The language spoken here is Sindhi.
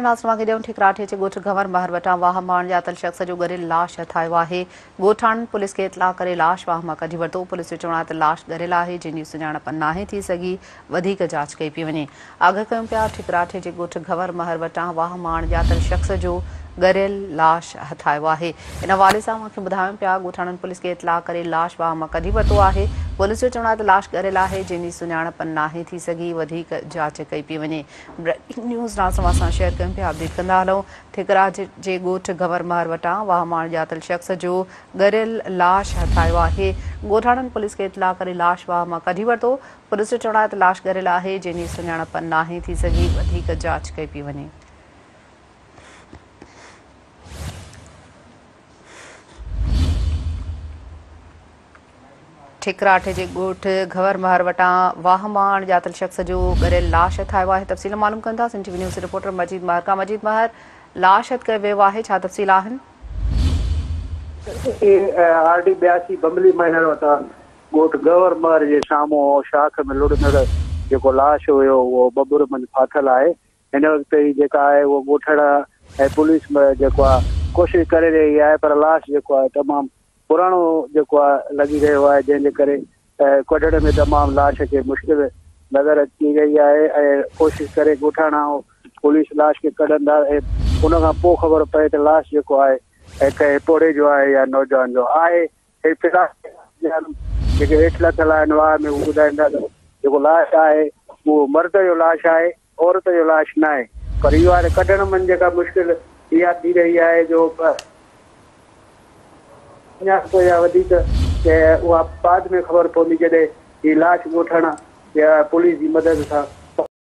ناس مانگي ڏيون ٺڪراٺي جي ڳوٺ گهنور مهر وٽان واهه مان اڻڄاتل شخص جو ڳريل لاش هٿايو آهي. ڳوٺاڻن پوليس کي اطلاع ڪري لاش واهه مان ڪڍي ورتو. پوليس جو چوڻ آهي ته لاش ڳريل آهي، جنهن جي سڃاڻپ ناهي ٿي سگهي، وڌيڪ جاچ ڪئي پئي وڃي. آگهه ڪيون پيا ٺڪراٺي جي ڳوٺ گهنور مهر وٽان واهه مان اڻڄاتل شخص جو ڳريل لاش هٿايو آهي. ان حوالي سان اوهان کي ٻڌايون پيا ڳوٺاڻن پوليس کي اطلاع ڪري لاش واهه مان ڪڍي ورتو آهي. پوليس جو چوڻ آهي ته لاش ڳريل آهي، جنهن جي سڃاڻپ ناهي ٿي سگهي، وڌيڪ جاچ ڪئي پئي وڃي. بريڪنگ نيوز ناز توهان سان شيئر ڪيون پيا اپڊيٽ ڪندا هلون ٺڪراء جي ڳوٺ گهور مهر وٽان واهه مان اڻڄاتل شخص جو ڳريل لاش هٿرايو آهي ڳوٺاڻن پوليس کي اطلاع ڪري لاش واهه مان ڪڍي ورتو پوليس جو چوڻ آهي ته لاش ڳريل آهي جنهن جي سڃاڻپ ناهي ٿي سگهي وڌيڪ جاچ ڪئي پي وڃي ٺڪراٺ جي ڳوٺ گهور مهر وٽان واهه مان اڻ ڄاتل شخص جو ڳريل لاش هٿ آيو آهي تفصيل معلوم ڪندا Sindh T V news reporter Majeed Mehar کان مجيد مهر لاش هٿ ڪيو ويو آهي ڇا تفصيل آهن اي آر ڊي ٻياسي بملي مهر وٽان ڳوٺ گهور مهر جي سامهون شاخ ۾ لڙندڙ جيڪو لاش هيو اهو ٻٻر منجهه ڦاٿل آهي هن وقت هي جيڪا آهي اهو ڳوٺڙا ۽ پوليس جيڪو آهي ڪوشش ڪري رهي آهي پر لاش جيڪو آهي تمام پراڻو جيڪو آهي لڳي رهيو آهي جنهن جي ڪري ڪڍڻ ۾ تمام لاش کي مشڪل نظر اچي رهي آهي ۽ ڪوشش ڪري ڳوٺاڻا پوليس لاش کي ڪڍندا ان کان پوء خبر پئي ته لاش جيڪو آهي ۽ ڪنهن پوڙهي جو آهي يا نوجوان جو آهي هي في الحال جيڪي هيٺ لٿل آهن واهه ۾ هو ٻڌائيندا ته جيڪو لاش آهي اهو مرد جو لاش آهي عورت جو لاش ناهي پر اهو آهي ته ڪڍڻ ۾ جيڪا مشڪل اها ٿي رهي آهي جو سڃاڻپ يا وڌيڪ ته اها بعد ۾ خبر پوندي جڏهن هي لاش ڳوٺاڻا يا پوليس جي مدد سان